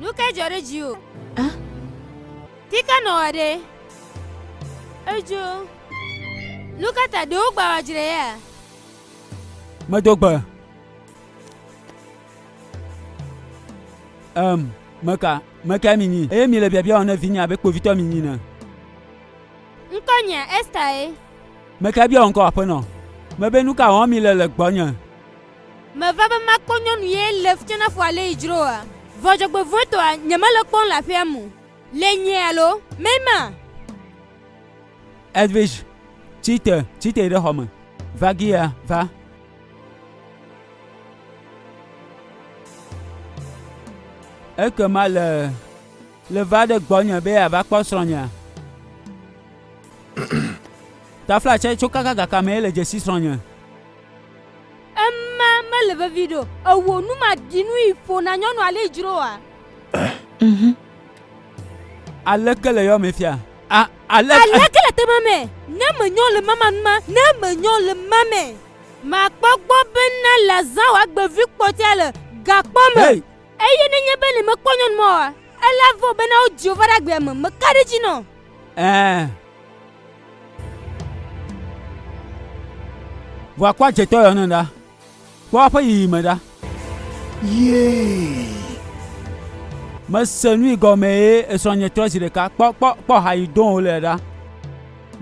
Nu ke dzɔ ɖe dziwò? A? Ti ka nɔwɔ ɖe? Edzo. Nu ka ta ɖewo gbawa dzre ya? Medo gbe. Em, meka, meka minyi. Eye mi le biabia wɔm ne vinye abe kpovitɔ minyi ne. Ŋkɔ nya Esther ye. Meka bia ŋkɔ aƒenɔ. Mebe nu ka wɔm mi le le gbɔnye. Meva be makpɔ nyɔnu ye le ftsnafo ale yi dzro oa? Vɔ dzɔgbevɔetɔa nyemele kpɔm le aƒea mo le nyɛ alo mɛ ma? Edwidge, tsi te, tsi te ɖe xɔme. Vagia, va. Ekema le le va ɖe gbɔnye be yeava kpɔ srɔ̃nyea? Tafla tsɛ tso kaka gaka mɛ le dzesi srɔ̃nye. Ema mele vevi ɖo. Ewo nu ma ɖi nu yi ƒo na nyɔnu ale dzro wa. Mhm. Aleke le yɔ me fia? A, ale, aleke le tema me? Ne me nyɔ le mama nu ma, ne me nyɔ le mame. Ma kpɔ gbɔ be na la zã wa gbe vi kpɔtia le ga kpɔ me. Hey. Eye ne nye be ne me kpɔ nyɔnu ma wa, ela vɔ be na o Jehovah ɖa gbea me, me ka ɖe dzi nɔ. Eh. Ʋua kpɔ adzetɔ yɔ ne ɖa. Kpɔ aƒe yiyi me ɖa. Yee. Mese nui gɔme ye esrɔ̃ nye trɔ zi ɖeka. Kpɔ kpɔ kpɔ ha yi do wole ɖa.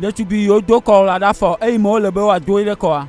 Ɖetugbui yiwo do kɔ la ɖa fɔ eyi me wole be woado ɖe kɔa.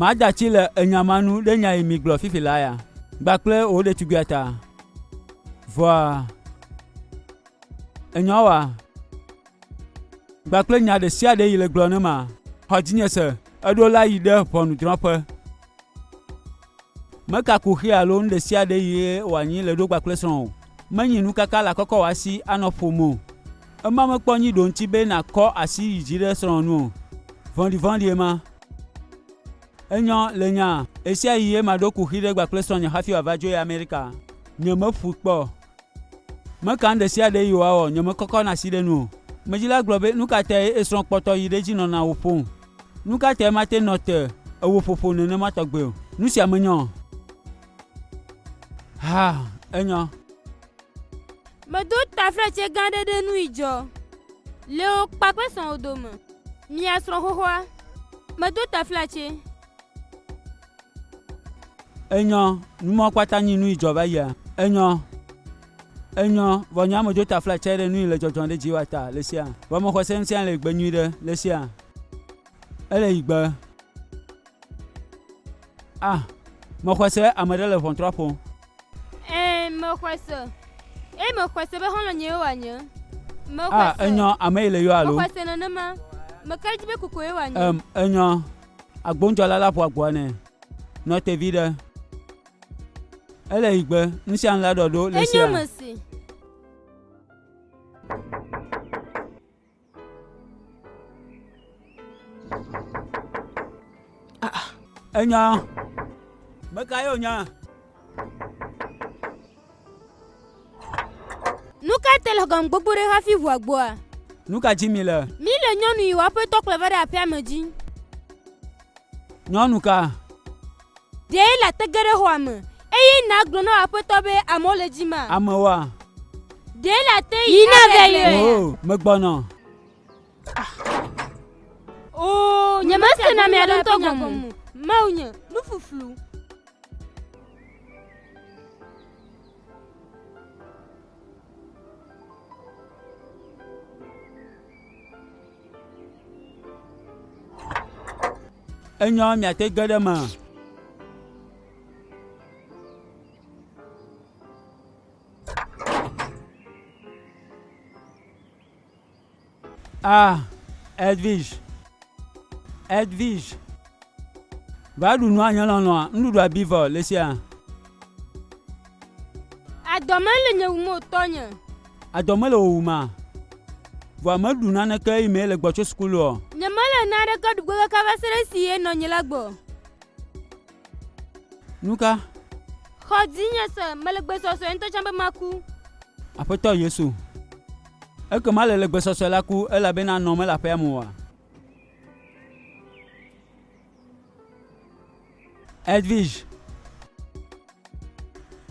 Mada tsi le enya ma nu ɖe nya yi mi gblɔ fifi la ya gbakple wò ɖetugbia ta vɔa enyawa Gba kple nya ɖe sia ɖe yi le gblɔ ne ma. Xɔ dzinye se, eɖo la yi ɖe ʋɔnudrɔ̃ƒe. Meka kuxi alo nu ɖe sia ɖe yi wòanyi le ɖo gba kple srɔ̃ o. Menyi nukaka la kɔkɔ wɔ asi anɔ ƒom o. Ema mekpɔ nyi ɖo ŋuti be nakɔ asi yi dzi ɖe srɔ̃ nu o. Vɔ̃ɖivɔ̃ɖi ema. Enyɔ le nya, ɣesia ɣi ye maɖo kuxi ɖe gba kple srɔ̃nye hafi wòava dzo yi Amerika. Nyemeƒui kpɔ o. Meka nu ɖe sia ɖe Yehowa wɔ, nyemekɔkɔna asi ɖe enu o. Medzila gblɔ be, Nu ka tae èsrɔ̃ kpɔtɔ yi ɖe edzi nɔna wò ƒom? Nu ka tae mate ŋu nɔ te ewò ƒoƒo nenema tɔgbe o? Nu sia menyɔ. Haa, enyɔ. Medo taflatse gã aɖe ɖe nui dzɔ. Le wò kpakple srɔ̃wò dome. Mia srɔ̃xɔxɔa. Medo taflatse. Enyɔ, numɔ kpata nyi nui jɔ va yia. Enyɔ, enyɔ, vɔ nyɔ ame jota fla tsae ɖe nui le jɔjɔ ɖe dzi wa ta le sia. Vɔ ame xɔse ŋutia le gbe nyui ɖe le sia. Ele yi gbe. A. Me xɔse ame ɖe le ʋɔntrɔ ƒo. Ẽ, me xɔse. Eye me xɔse be xɔlɔ nye yewa nye. Me xɔse. A. Enyɔ, ame yi le yɔ alo. Me xɔse nenema. Me ka ɖe dzi be koko yewa nye. Em, enyɔ. Agbondzɔla la ƒo agboa nɛ. Nɔ te viɖe. Ele yi gbe, ŋsiaŋ la ɖɔ ɖo le sia. Enye me si. Enya. Meka yeo nya. Nu ka te le gɔme gbogbo ɖe hafi ʋua gbɔa? Nu ka dzi mi le? Mi le nyɔnu yi woaƒe tɔ kplɔ va ɖe aƒea me dzi. Nyɔnu ka? Ɖe la te ge ɖe xɔa me eye na gblɔ na aƒetɔ be amewo le dzi ma? Amewoa? Ɖe la te yi na vɛ yi. Oh, megbɔnɔ. o nyemese na mia ɖotɔ gɔmu mawu nye nufuflu enyɔ miate ge ɖe ma A. Edwige. Edwige. Va ɖu nua nye lɔlɔ̃a. Nuɖuɖua bi vɔ le sia. Adɔ mele nye wum o tɔnye. Adɔ mele wò wum a? Vɔa meɖu naneke eyi me le gbɔ tso sukulu o. Nye mele naneke ɖugbe kaka va se ɖe si ye nɔ nye la gbɔ. Nu ka? Xɔ dzinye se, mele gbesɔsɔe ŋutɔ tsã be maku. Aƒetɔ Yesu, ekema le le gbesɔsɔe la ku elabena nɔ mele aƒea me oa? Edwige.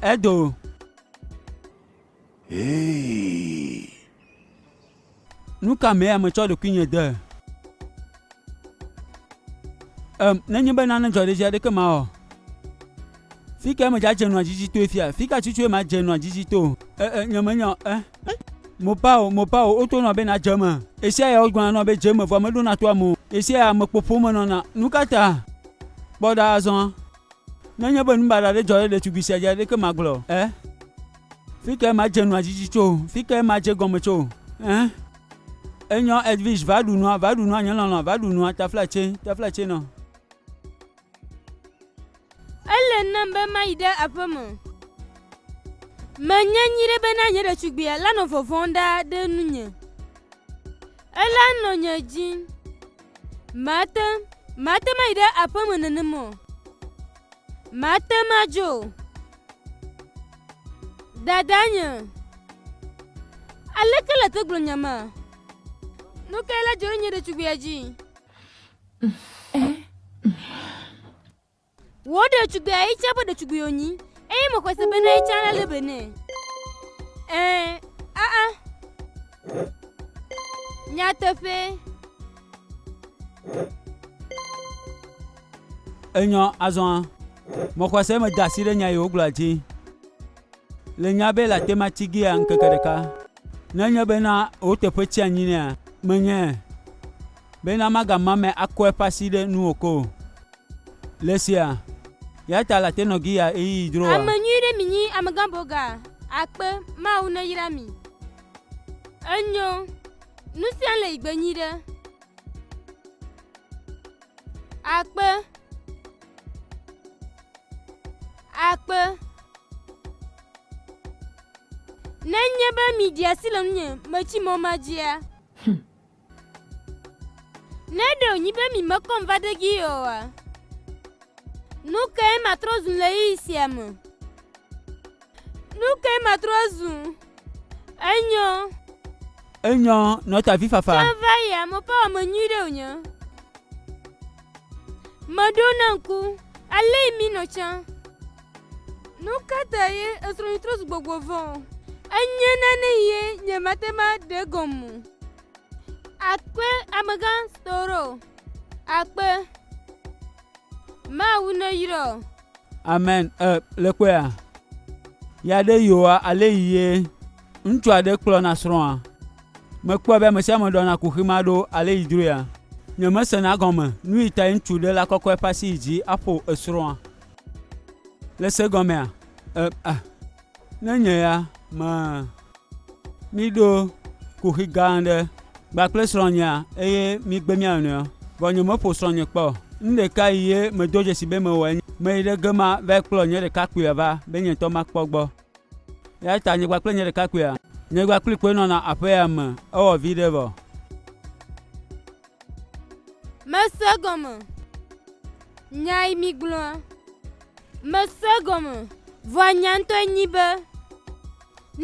Edo. Hey. Nu ka mee metsɔ ɖokuinye de? Em, nenye be nane dzɔ ɖe dzi aɖeke mawɔ. Fi kae medzadze nua dzidzi toe fia? Fi ka tutue madze nua dzidzi to? E, e, nyemenya o. E, mopao, mopao, woto nɔa be nadze eme. Ɣesia ya wogblɔna nɔa be dze eme, vɔa meɖona to ame o. Ɣesia ya amekpo ƒom menɔna. Nu ka ta? Kpɔ ɖa azɔ. Nenye be nubaɖa aɖe dzɔ ɖe ɖetugbui sia dzi aɖeke magblɔ o. E. Fi kae madze nua dzidzi tso? Fi kae madze gɔme tso? Eh? Enyɔ Edwige, va ɖu nua, va ɖu nua, nye lɔlɔ, va ɖu nua, taflatse, taflatse nɔ. Ele nam be mayi ɖe aƒe me. Menya nyuie ɖe bena nye ɖetugbia la nɔ vɔvɔ̃m ɖa ɖe nunye. Ela nɔ nye dzi. Mate, mate mayi ɖe aƒe me nenem o. Mate madzo o. Dadanyo, aleke le te gblɔ nyama? Nu kae le dzɔ ɖe nye ɖetugbia dzi? Wò ɖetugbia ye tsã ƒe ɖetugbui wònyi, eye mexɔe se bena ye tsã alé be nɛ. Ɛɛ, aa. Nyateƒee. Enyɔ azɔ mɔxɔse me da asi ɖe nya yi wogblɔa dzi. Le nya be la tema tsi gia ŋkeke ɖeka. Nenye be na wò teƒe tsi anyi nea, menye be na magama me akɔ eƒe asi ɖe nu o ko. Le sia, ya ta la tenɔ gia eyi yi droa. Ame nyui ɖe mi nyi amegã boga akpe mawu ne yra mi. Enyo, nusia le yi gbe nyi ɖe. akpe akpe nenye be miɖi asi le nunye metsi mɔ ma dzia hm. ne ɖe wònyi be mimekɔm va ɖe gi oa nu kae matrɔ zu le ɣeyiɣi sia me Nu kae matrɔ zu? Enyɔ. Enyɔ nɔtavi fafa. Tsã va yi ame ƒe ame nyui ɖe wònye. Meɖo na ŋku, ale yi mi nɔ tsã. Nu ka ta ye esrɔ̃nyi trɔ zu gbɔgbɔ vɔ̃? Enye nane ye nyemate ma ɖe gɔme. Akpe amegã Storo. Akpe. Mawu neyrɔ. Amen e le kpɔe a? Ya ɖe yewoa ale yi ye ŋutsu aɖe kplɔna srɔ̃a? Mekpɔe be ame sia ame ɖɔna kuxi ma ɖo ale yi dzroe a? Nyemesena gɔme nu yi tae ŋutsu ɖe la kɔkɔ eƒe asi yi dzi aƒo esrɔ̃a le se gɔmea? E a. Ne nye ya mea, míɖo kuxi gã aɖe kpla kple srɔ̃nyea, eye mígbe mía nɔewo. Vɔ nyemeƒo srɔ̃nye kpɔ o. Nu ɖeka yi ye medo dzesi be mewɔe nye meyi ɖe ge ma va kplɔ nye ɖekakpuia va be nye ŋutɔ makpɔ egbɔ. Eya ta nye kpakple nye ɖekakpuia, nye kpakplii koe nɔna aƒe ya me. Ewɔ viɖe vɔ. Mese egɔme nya yi migblɔa. Mese egɔme, vɔa nya ŋutɔe nyi be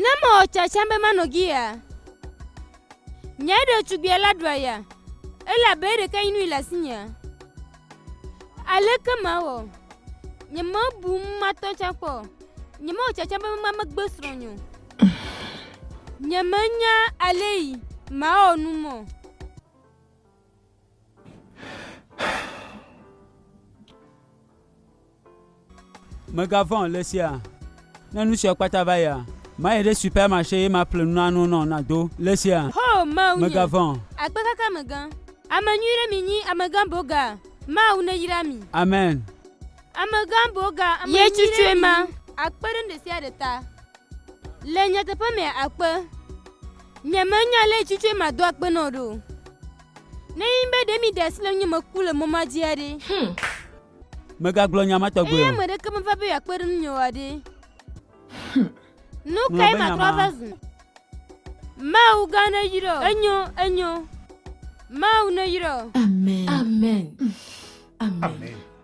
ne mewɔ tsatsam be manɔ giya, nye ɖetugbia la ɖua ya, elabe eɖeke nyi nui le asinye. Aleke mawɔ? Nyemebu matɔ tsã kpɔ. Nyemewɔ tsatsam be mamegbe srɔ̃nye o. Nyemenya ale yi mawɔ nu mɔ. Mègavɔ̃ le sia. Ne nu sia kpata va yia, mayi ɖe supɛmaxe ye maƒle nu na nu nɔ nàdo le sia. Ho, Mawu nye. Mègavɔ̃. Akpekakamegã. Ame nyui ɖe minyi, Amegã Boga. Mawu neyra mi. Amen. Amegã Boga, ame nyui ɖe minyi. Ye tsutsoe ma. Akpe ɖe nuɖesiaɖe ta. Le nyateƒe mea, akpe. Nyemenya lé tsutsoe ma do akpe nɔ ɖe o. Ne enye be ɖe miɖe asi le ŋunye meku le mɔ ma dzia ɖe? Hum. Megagblɔ nya ma tɔgbe o. Eye ame ɖeke meva be yeakpe ɖe ŋunye oa ɖe? Hum. Nu kae matrɔ va zu? Mawu gã neyra o. Enyo, enyo. Mawu neyra o. Amen. Amen. Amen. Amen.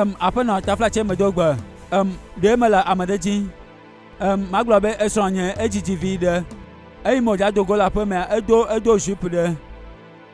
Em, aƒenɔ taflatsɛ me do gbe. Em, ɖe mele ame ɖe dzi. Em, magblɔ be esrɔ̃ nye edzidzi vi ɖe. Eyi mo dza do go le aƒe mea, edo edo jupe ɖe.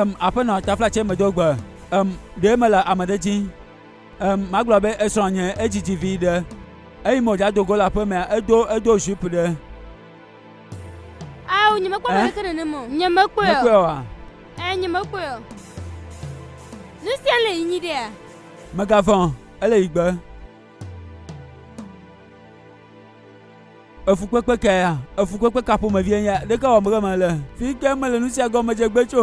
em aƒenɔ taflatsɛ medo gbe em ɖe mele ame ɖe dzi em magblɔ be esrɔ̃ nye edzidzi vi ɖe eyi mo dza dogo le aƒemea edo edo jupe ɖe Ao, nyemekpɔ ame aɖeke nenem o. Nyemekpɔe o. Mekpɔe oa? Ɛɛ, nyemekpɔe o. Nu sia le yi nyi ɖea? Megavɔ̃, ele yi gbe. efukpekpe ka ya efukpekpe ka ƒomevie nye ɖeke wɔm ke mele fi ke mele nu sia gɔmedze gbe tso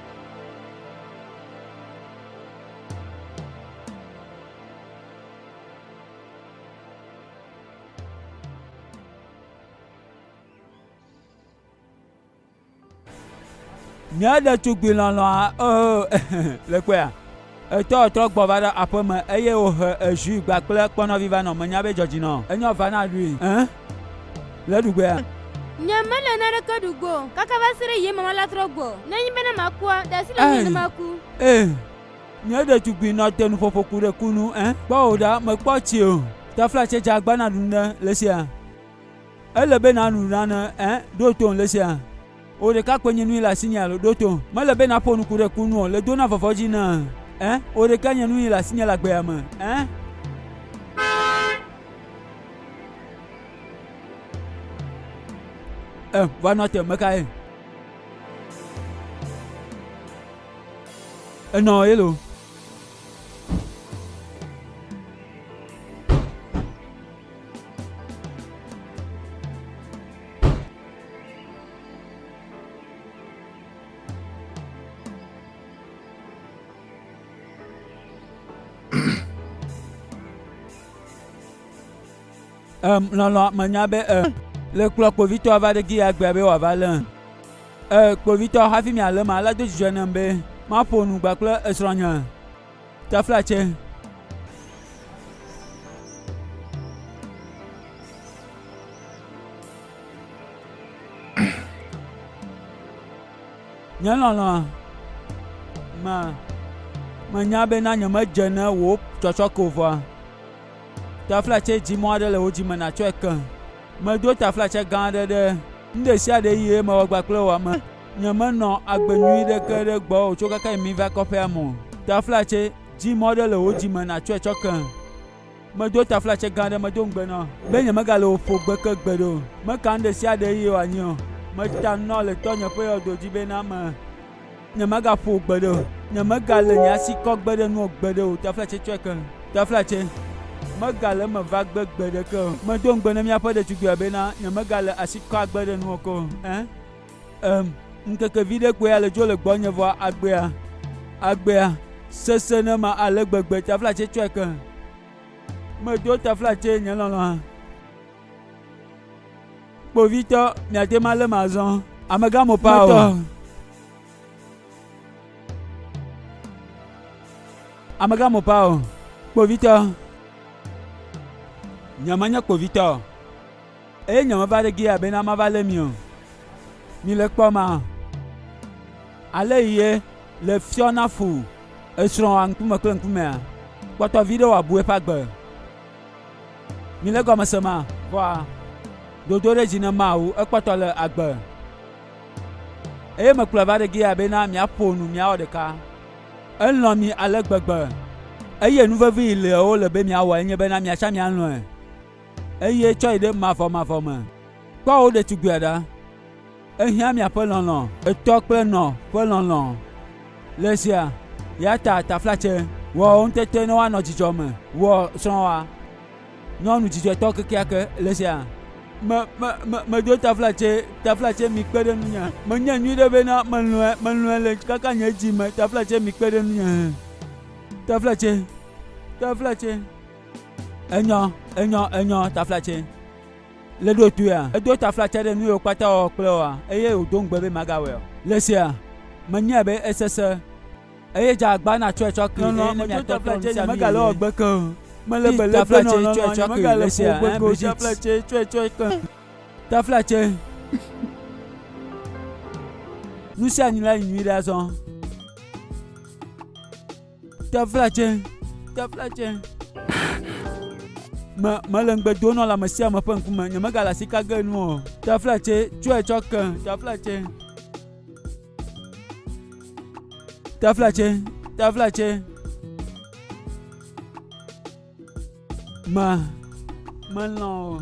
Mía ɖetugbi lɔlɔ̃a, oo, le kpɔa? Etɔ trɔ gbɔ va ɖe aƒe me eye wòhe ejui gba kple kpɔnɔvi va nɔ. Menya be dzɔdzinɔ enyɔ va na ɖui ẽ le ɖugbea. Nye mele naneke ɖu go o kaka va se ɖe ɣie mama la trɔ gbɔ. Nenye bena makua, ɖe asi le ŋunye ne maku. Ẽ, nye ɖetugbui nɔ te nuƒoƒo ku ɖe ku nu ẽ. Kpɔ wò ɖa, mekpɔ tsi o. Tafla tse dze agba na ɖu ne le sia. Ele be nanu nane ẽ, ɖo tom le sia. Wò ɖekakpuinyinui le asinye alo ɖo to? Mele be nàƒo nuku ɖe ku nu o, le dona vɔvɔ dzi na. Ẽ, wò ɖeka nye nuyi le asinye le agbea me. Ẽ. Ẽ, va nɔ te, mekae? Enɔ yelo. um, lɔlɔ menya be um, le kplɔ kpovitɔ va ɖe gi ya gbea be wòava lé um, kpovitɔ hafi mialé ma alé do dzidzɔ nam be maƒo nu gbakple esrɔ̃nye Nye lɔlɔ̃a, ma menya be na nyemedze ne wò tsɔtsɔke o vɔa, taflatse dzi mɔ aɖe le wò dzi me nàtsɔe ke. Medo taflatse gã aɖe ɖe nu ɖe sia ɖe ɣie mewɔ kpakple wò ame. Nyemenɔ agbe nyui ɖeke ɖe gbɔwò tso keke yi miva kɔƒea me o. Taflatse dzĩ mɔ ɖe le wò dzi me nàtsɔe tsɔ ke. Medo taflatse gã ɖe medo ŋugbe nɔ be nyemegale wò ƒo gbe ke gbeɖe o. Meka nu ɖe sia ɖe eye wòanyi o. Meta nu nɔ le tɔnye ƒe yɔdo dzi be na me. Nyemagaƒo wò gbeɖe o. Nyemegale nye asi kɔ gbe ɖe nuwò gbeɖe o. Taflatse tsɔe ke. Taflatse, megale eme va gbe gbe ɖeke o. Medo ŋugbe ne míaƒe ɖetugbia be na nyemegale asi kɔ agbe ɖe nuwò ke o. Ẽ? Em, ŋkeke viɖe koe ale dzo le gbɔnye vɔ agbea, agbea sesẽ ne ma ale gbegbe taflatse tsɔe ke. Medo taflatse nye lɔlɔ̃a. Kpovitɔ, miate ma le mazɔ. Amegã mo pa o. Amegã mo pa o. Kpovitɔ. Nyemanye kpovitɔ o. Eye nye meva ɖe Gilead bena mava lé mi o. Mile kpɔma? Ale yi ye le fiɔ na fu esrɔ̃wòa ŋkume kple ŋkumea? Kpɔtɔ viɖe wòabu eƒe agbe. Mile gɔme se ma? Vɔa dodo ɖe dzi ne mawu ekpɔtɔ le agbe. Eye mekplɔe va ɖe Gilead bena miaƒo nu miawɔ ɖeka. Elɔ̃ mi ale gbegbe, eye nu vevi yi le wole be miawɔ enye bena miatsã mialɔ̃e. eye tsɔ yi ɖe mavɔmavɔ me. Kpɔ wò ɖetugbia ɖa. Ehiã miaƒe lɔlɔ̃. Etɔ kple nɔ ƒe lɔlɔ̃. Le zia, ya ta taflatse. Wɔ wo ŋutete ne woanɔ dzidzɔ me. Wɔ srɔ̃wòa. Nyɔnu dzidzɔtɔ kekeake le zia. Me, me, me, medo taflatse, taflatse mi kpe ɖe nunye. Menye nyui ɖe bena melɔe, melɔe le kaka nye dzi me. Taflatse mi kpe ɖe nunye. Taflatse, taflatse. Enyɔ, enyɔ, enyɔ taflatse. Le ɖotoea, edo taflatse ɖe nu yiwo kpata wɔwɔ kple woa, eye wòdo ŋugbe be magawɔe o. Le sia, menyae be esese, eye dze agba natsɔe tsɔ kee, eye ne miatɔ trɔ nu sia nu yi megale wɔgbe ke o. Mele be le ƒe nɔnɔ nɔ anyi, megale ƒo gbe ke o, taflatse tsɔe tsɔ ke. Taflatse. Nu sia nu la yi nyuiɖe azɔ. Teflatse, teflatse. Me mele ŋugbe do nɔ le ame sia ame ƒe ŋkume nyemegale asi ka ge nu o. Teflatse tsɔe tsɔ ke teflatse. Teflatse, teflatse. Me melɔ̃ o.